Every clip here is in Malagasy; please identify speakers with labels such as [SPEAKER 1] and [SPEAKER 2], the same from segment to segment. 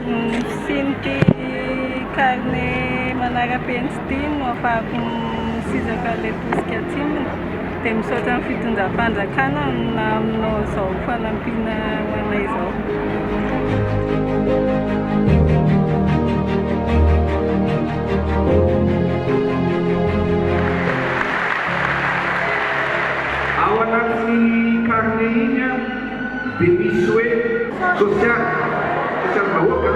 [SPEAKER 1] Ny fisian'ity carnet manara-penitra ity no afahako misizaka ilay tosika atsimonya, dia misaotra ny fitondram-panjakana naminao izao fanampiana ho anay izao.
[SPEAKER 2] Ao anatin'iny carnet iny an! Benisoe Sosialy, sosialim-bahoaka,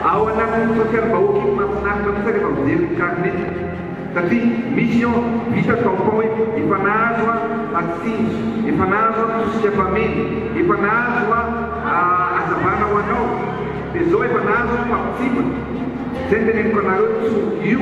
[SPEAKER 2] Ao anatin'iny sosialim-bahoaka iny mahafinaritra mihitsy aho rehefa mijery ny carnet satria misy eo vita tampon hoe efa nahazo aho atsindry, efa nahazo aho tosika mpameno, efa nahazo aho hazavana ho anao dia zao efa nahazo aho fampitsipika, zay ny teneniko anareo tso io.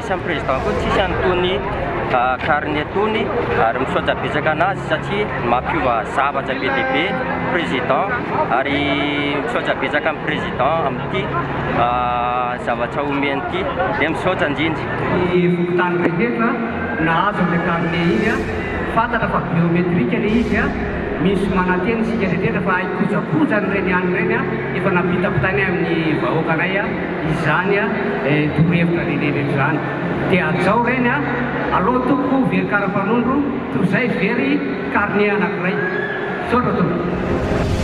[SPEAKER 3] Isan'ny président koa tsisy an'itony carnet itony ary misaoja betsaka anazy satria mampiova zavatra be dia be président ary misaoja betsaka amin'ny président amin'ity zavatra omeny ity dia misaoja indrindra. ny fokontany
[SPEAKER 4] rehetra nahazo an'ilay carnet iny an! fantatra fa biométrique ilay izy an! misy manantena isika rehetra fa haikojakoja an'ireny ihany ireny an! efa nampitapitainay amin'ny vahoakanay an! Izany a eh torohevitra lehibe ve izany te hajao ireny a! Alou tompoko very karapanondro toy izay very carnet anankiray. Misaotra tompoko.